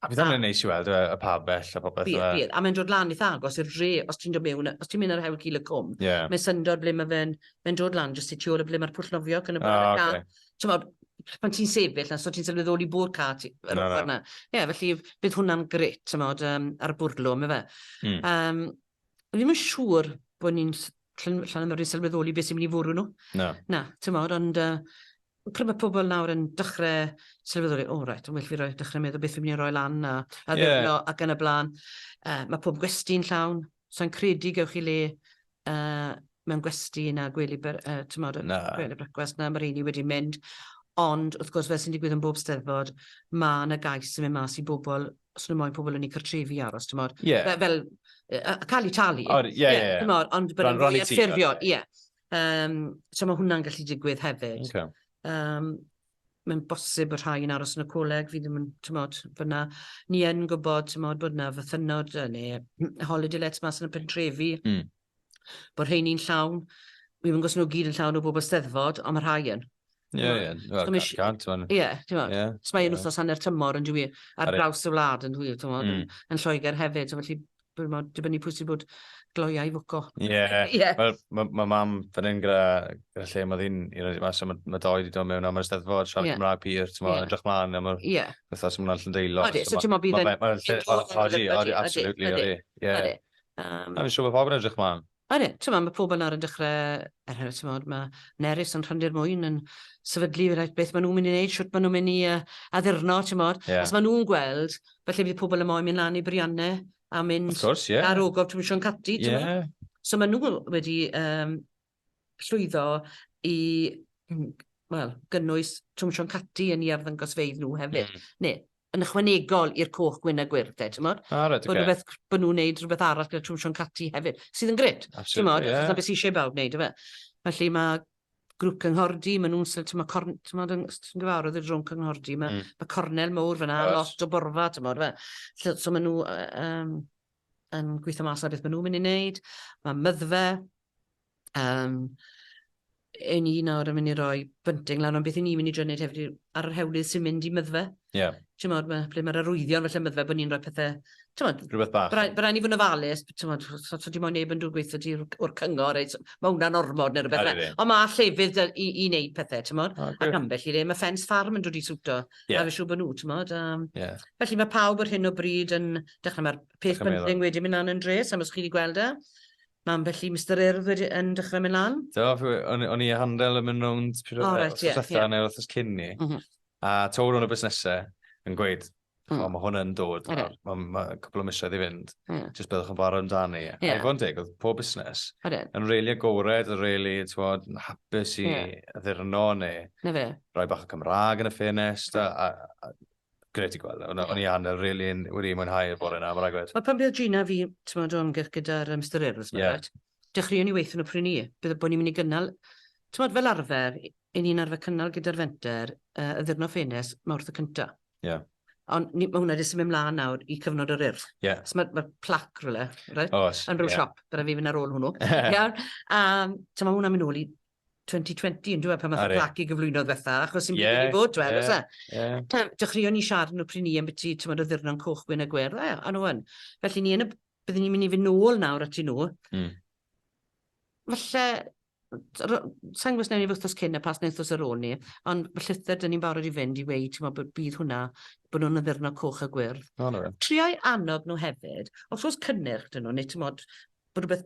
a bydd hwnna'n neis i weld y, y pabell a popeth. Bydd, bydd. A mae'n dod lan eitha agos i'r re, os ti'n dod mewn, os ti'n mynd ar hewl cil y cwm, yeah. mae'n syndod ble mae fe'n mae dod lan jyst i tu ôl y ble mae'r pwll nofio cyn y bore. Oh, okay. Tymod, pan ti'n sefyll, so ti'n sylweddoli bod car ti yr no, ochr yna. Ie, yeah, felly bydd hwnna'n gret, tymod, um, ar y bwrlwm, yma. Mm. Um, ddim yn siŵr bod ni'n llan ymwneud sylweddoli beth sy'n mynd i fwrw nhw. Na. Na, tymod, ond uh, pryd mae pobl nawr yn dechrau sylweddoli, o, oh, right, yn well fi roi dechrau meddwl beth fi'n mynd i roi lan a, a yeah. ac yn y blaen. Uh, mae pob gwesti'n llawn. Sa i'n credu gewch chi le mewn gwesty na gwely brecwast na, mae rheiny wedi mynd. Ond wrth gwrs, fel sy'n digwydd yn bob Steddfod, mae yna gais yn mynd mas i bobl, os nhw moyn pobl yn eu cartrefi aros, timod. Fel, cael eu talu. Ond bod e'n fwy anffurfiol. So mae hwnna'n gallu digwydd hefyd. mae'n bosib bod rhai yn aros yn y coleg, fi ddim yn, tymod, bod na, ni yn gwybod, tymod, bod na fythynod neu holiday lets mas yn y pentrefi, mm. bod rheini'n llawn, mi fy ngos nhw gyd yn llawn o bobl steddfod, ond mae rhai yn. Ie, ie, ie, so mae'n wythnos hanner tymor yn dwi, ar draws y wlad yn dwi, yn Lloegr hefyd, so felly Dwi'n meddwl, dibynnu pwy sy'n bod gloiau fwco. Ie, yeah. yeah. mae ma, ma mam fan hyn gyda, gyda lle mae ddyn i roed mas, so mae ma doi wedi dod mewn am yr ysteddfod, siarad yeah. Cymraeg pur, ti'n yeah. edrych mlaen am yr yeah. wythnos yma'n allan deilo. Odi, so ti'n meddwl bydd yn... Odi, absolutely, odi. Ie. Mae'n siŵr bod pobl yn edrych mlaen. Ond ie, t'mod, ma' pobl nawr yn dechre, er enghraifft, t'mod, ma' Nerys yn Rhandir Mwyn yn sefydlu reit beth ma' nhw'n mynd i wneud, shwt ma' nhw'n mynd i uh, addurno, t'mod. Yeah. Os ma' nhw'n gweld, falle bydd pobl yn moyn mynd lan i Brianne a mynd Of course, yeah. ar ogof trwy Sion Cati, t'mod. Yeah. So ma' nhw wedi um, llwyddo i wel, gynnwys Twm Sion Cati yn i arddangosfeydd nhw hefyd. Mm. Ne, yn ychwanegol i'r coch gwyn a gwyrdd 'de t'mod. O reit ocê. Rhywbeth bo' nhw'n neud rhywbeth arall gyda Twm Siôn Catti hefyd sydd yn grêt. Absolutely ie. T'mod achos 'na be' sy isie bawb neud yfe? Felly ma' grŵp cynghordy ma' nhw'n sort ma' corn- t'mod yn ti'n gyfarwydd y drwm cynghordy ma'... Mm. ...ma' cornel mowr fan'na... Oes. ...lot o borfa t'mod yfe? Lle so ma' nhw yy yym yn gwitho mas ar beth ma' nhw'n myn' i neud. Ma' Myddfa Yym, 'yn ni nawr yn mynd i roi bunting lan, ond beth 'yn ni'n mynd i drio neud hefyd yw, ar yr hewlydd sy'n mynd i Myddfa... Ie. ...t'mod, ma', ble ma'r arwyddion falle Myddfa, bo' ni'n rhoi pethe, t'mod... Rhywbeth bach. ...by' rai', by' rai' ni fod yn ofalus, b- t'mod, os o's dim ond neb yn dod gweutho ti o'r o'r cyngor reit, ma' wnna'n ormod ne' rwbeth... Ydi. ...ond ma' llefydd 'da i i neud pethe, t'mod? O grêt. Ac ambell i le ma' ffens ffarm yn dod i siwto... Ie. ...a fi siŵr bo' nw, t'mod, yym... Ie. ...felly ma' pawb ar hyn o bryd yn dechre, ma'r peth bunting wedi myn' lan yn drês, sai'm os chi 'di gweld e. Mam, felly Mister Urdd wedi yn dechrau mynd lan? Do, o'n i a Handel yn mynd rownd wrth ysatha neu wrth cyn ni. Mhm. A tawr o'n y busnesau yn gweud, mm. o, mae hwn yn dod, okay. mae ma cwpl o misoedd i fynd, yeah. jyst byddwch yn fawr amdani. Yeah. A i fod yn deg, oedd pob busnes yn reili agored, yn reili yn hapus i yeah. addurno neu Na rhoi bach o Cymraeg yn y ffenest. Yeah. A, a, Gret i gweld. O'n yeah. i anel, really, wedi mwynhau y bore yna, mae'n rhaid. Mae pan bydd Gina fi, ti'n meddwl, o'n gyrch gyda'r um, styryrws, yeah. right? Dechreuwn ni weithio nhw prynu. Bydd bod ni'n mynd i gynnal, ti'n meddwl, fel arfer, i ni'n arfer cynnal gyda'r fenter uh, y ddyrno ffenes mae wrth y cyntaf. Yeah. Ond mae hwnna wedi symud ymlaen nawr i cyfnod yr urdd. Yeah. So mae, mae plac rhywle, right? Os, yn rhyw yeah. siop, bydd fi fynd ar ôl hwnnw. Iawn. A so mae hwnna'n mynd ôl i 2020 yn dweud pan math o plac i gyflwyno ddiwetha, achos sy'n byd wedi bod dweud, oes e? Dechreuon ni siarad yn y pryn i yn byti, ti'n bod o ddyrnon coch, gwyn a gwer, dda, a nhw yn. Felly ni yn y, byddwn ni'n mynd i fynd nôl nawr at i nhw. Mm. Felly, sa'n gwrs newn ni wythnos cyn a pas neu wythnos ar ôl ni, ond mae llythyr dyn ni'n barod i fynd i weid, ti'n bod, bydd hwnna, bod nhw'n addurno coch a gwyrdd. Triau annog nhw hefyd, os oes cynnyrch dyn nhw, neu ti'n bod, bod rhywbeth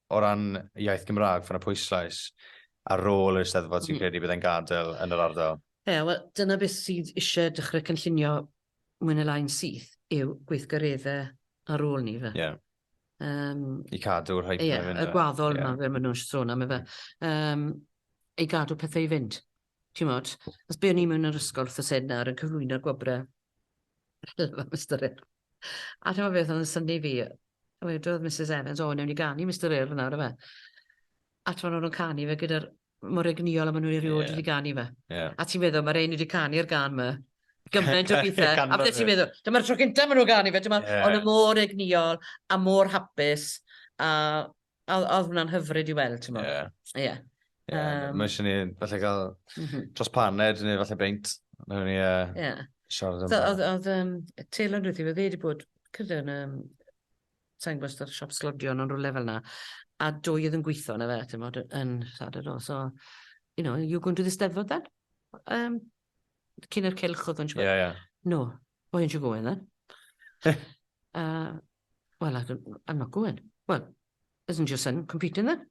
O ran iaith Gymraeg, fo' 'na pwyslais ar rôl yr Eisteddfod ti'n credu bydd e'n gadael yn yr ardal? Ie, wel, dyna beth sydd isie dechrau cynllunio mwy neu lai'n syth yw gweithgareddau ar ôl 'ny ife? Ie. Yym... I cadw'r hype 'na i fynd. Ie, y gwaddol 'ma fel ma' nhw'n sôn am ife? Yym, i gadw pethe i fynd. Chimod, os be o'n i mewn yr ysgol wrth y sen nawr yn cyflwyno gwobre helfa Mr Earl. A ti'n meddwl beth oedd yn syni fi? A wedodd Mrs Evans, o, newn ni ganu Mr Earl nawr yma. A ti'n meddwl nhw'n canu fe gyda'r mor egnïol a maen nhw'n erioed yeah. wedi ganu fe. Yeah. A ti'n meddwl, mae'r ein wedi canu'r gan yma gymaint o bethau. a beth ti'n meddwl, dyma'r tro cyntaf maen nhw'n ganu fe, dyma, yeah. ond y mor egnïol a mor hapus a Odd odd hwnna'n hyfryd i weld t'mo'. Ie. Ie. Ie ma' Yym. ma' isie ni falle ga'l M-hm. dros paned ne' falle beint newn ni yy... Ie. ...siarad am... So odd odd yym Taylo'n dweutho fi o'dd e 'di bod credu yn yym sai'n gwbo os o'dd siop sglodion yn rwle fel 'na a dwy o'dd yn gwitho yno fe t'mod yy yn Lladwr do so you know you go into the 'Steddfod then yym cyn yr cylch odd o'n siŵr. Ie ie. No. Well, you should go in then. uh, well, I don't, I'm not going. Well, isn't your son competing then?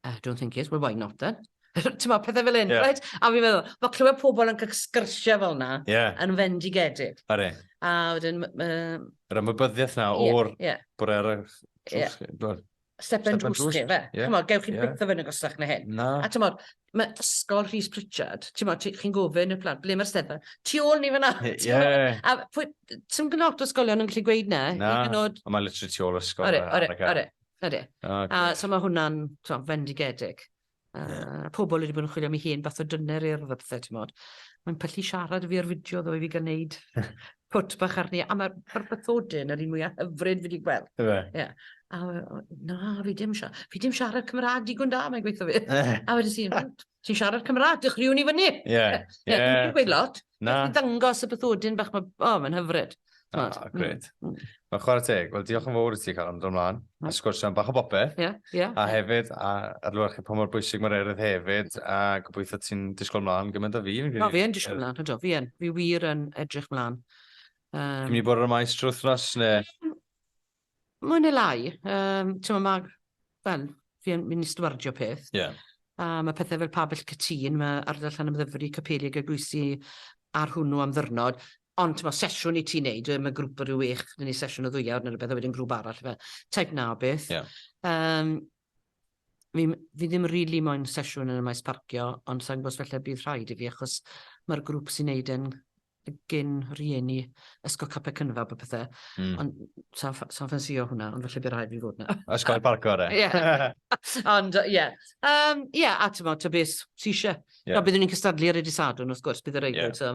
I don't think he is. Well, why not then? Ti'n ma, pethau fel un, yeah. right? A fi'n meddwl, mae clywed pobl yn sgyrsiau fel na, yeah. yn fendigedig. Are. A wedyn... Uh, Yr ymwybyddiaeth na o'r yeah, yeah. bore ar y... Yeah. step and drws chi, fe. Yeah. Chymod, gewch chi yeah. byth o fynd yn gosach na hyn. Na. A ti'n modd, mae ysgol Rhys Pritchard, ti'n modd, chi'n gofyn y plant, ble mae'r stedfa? Tu ôl ni fyna. Yeah. A pwy, ti'n gynod o ysgolion yn gallu gweud na. Na, gynod... ond mae literally tu ôl ysgol. Ore, ore, ore. Ore. Okay. A so mae hwnna'n fendigedig. Uh, yeah. Pobl wedi bod yn chwilio am ei hen fath o dyner i'r ddypthau, ti'n modd. Mae'n pyllu siarad y fi ar fideo ddo i fi gan wneud pwt bach arni. A mae'r ma bathodyn yr un mwyaf hyfryd fi wedi gweld. Ie. Yeah. A na, fi dim siarad, fi dim siarad Cymraeg digon da, mae'n gweithio fi. a wedi sy'n, ti'n siarad Cymraeg, dychriwn i fyny. Ie. Ie, dwi'n gweud lot. Na. Beth i ddangos y bythodyn bach mae... O, mae'n hyfryd. O, oh, gred. Mm. mm. Mae'n chwarae teg. Wel, diolch yn fawr i ti, Caron, dod ymlaen. Mm. A sgwrsio am bach o bopeth. Ie, yeah, ie. Yeah. A hefyd, a ar lwyr chi pa mor bwysig mae'r erydd hefyd, a gobeithio ti'n disgwyl ymlaen gymaint o fi. No, fi yn disgwyl ymlaen, hydw, fi yn. Fi wir yn edrych ymlaen. Um, Dwi'n mynd i bod ar y maes trwy thnos, neu? Mwy neu lai. Yym, t'mo' ma', wel, fi yn myn' i stwardio peth. Ie. A ma' pethe fel Pabell Cytûn, ma' Ardal Llanymddyfri, Capeliog Eglwysi ar hwnnw am ddiwrnod, ond t'mo' sesiwn i ti neud yw e, ma' grŵp o ryw wech, 'da ni sesiwn o ddwy awr ne' rwbeth a wedyn grŵp arall ife, type 'na o beth. Ie. Yym. Fi fi ddim rili moyn sesiwn yn y maes parcio ond sai'n gwybod os falle bydd rhaid i fi achos mae'r grŵp sy'n neud e'n gyn rhieni ysgol capel cynfab a pethau. Mm. Ond sa'n ffa- sa'n ffansïo hwnna ond falle bydd rhaid fi fod na. Ysgol parco re. Ie. Ond yy, ie. Yym ie a t'mod ta beth sy isie. Ie. A byddwn ni'n cystadlu ar y dydd Sadwrn wrth gwrs bydd y reidrwydd so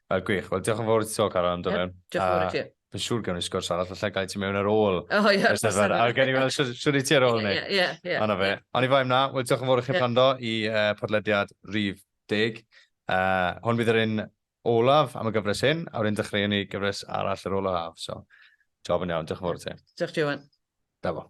Uh, gwych. Wel, diolch yn fawr i ti tro, Caron, am dod mewn. Diolch yn fawr i ti. Fy siŵr gawn ni sgwrs arall, falle gael ti mewn ar ôl. O, oh, ie. Yes, a gael ni weld siwr i ti ar ôl ni. Ie, ie, ie. Ond fe. Ond i fai mna, wel, diolch yn fawr i chi prando i uh, podlediad rif deg. Uh, hwn bydd yr un olaf am y gyfres hyn, a wedyn dechreuwn ni gyfres arall yr olaf. So, job yn iawn, diolch yn fawr i ti. Diolch, Johan. Da fo.